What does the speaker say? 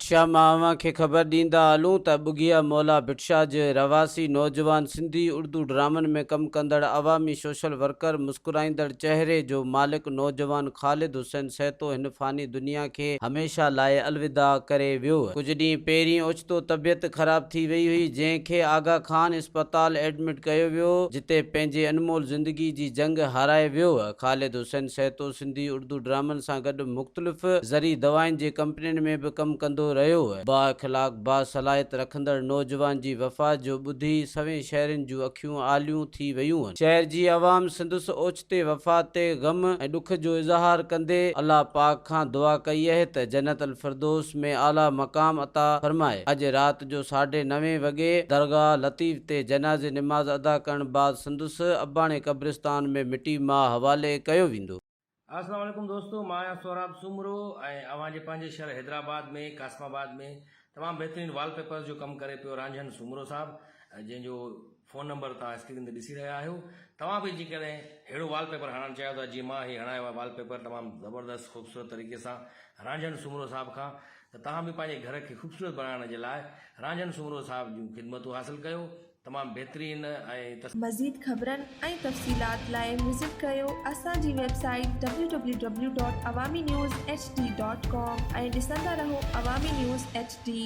ڀٽشاهه مان اوهان کي خبر ڏيندا هلون ته ٻگهيا مولا ڀٽشاهه جو رهواسي نوجوان سنڌي اڙدو ڊرامن ۾ ڪم ڪندڙ عوامي سوشل ورڪر مسڪرائيندڙ چهري جو مالڪ نوجوان خالد حسين سهتو هن فاني دنيا کي هميشه لاء الوداع ڪري ويو. ڪجهه ڏينهن پهرين اوچتو طبيعت خراب ٿي وئي هئي، جنهن کي آغا خان اسپتال ايڊمٽ ڪيو ويو، جتي پنهنجي انمول زندگي جي جنگ هارائي ويو. خالد حسين سهتو سنڌي اردو ڊرامن سان گڏ مختلف زرعي دوائن جي ڪمپنين ۾ به ڪم ڪندو رهيو. بااخلاق، باصلاحيت رکندڙ نوجوان جي وفات جو ٻڌي سوين شهرين جون اکيون آليون ٿي ويون. شهر جي عوام سندس اوچتي تي وفات تي غم ۽ ڏک جو اظهار ڪندي الله پاڪ کان دعا ڪئي اهي ته جنت الفردوس ۾ اعليٰ مقام عطا فرمائي. اڄ رات جو ساڍي نوين وڳي درگاهه لطيف تي جنازي نماز ادا ڪرڻ بعد سندس اباڻي قبرستان ۾ مٽي ماء حوالي ڪيو ويندو. اسلام عليڪم دوستو مان آهيان سهراب سومرو ۽ اوهان جي پنهنجي شهر حيدرآباد ۾ قاسم آباد ۾ تمام بهترين وال پيپرز جو ڪم ڪري پيو رانجهن سومرو صاحب جنهن جو فون نمبر توهان اسڪرين تي ڏسي رهيا آهيو توهان به جيڪڏهن اهڙو وال پيپر هڻڻ چاهيو ٿا جيئن مان هي هڻايو آهي وال پيپر تمام زبردست خوبصورت طريقي سان رانجهن سومرو صاحب کان ته توهان به پنهنجي گهر کي خوبصورت بڻائڻ جي لاء رانجهن سومرو صاحب جون خدمتون حاصل ڪيو تمام بهترين ۽ تس. مزيد خبرن ۽ تفصيلات لاء وزٽ ڪريو اسان جي website www.awaminews. hd. com ۽ ڏسندا رهو عوامي نيوز ايڇ ڊي.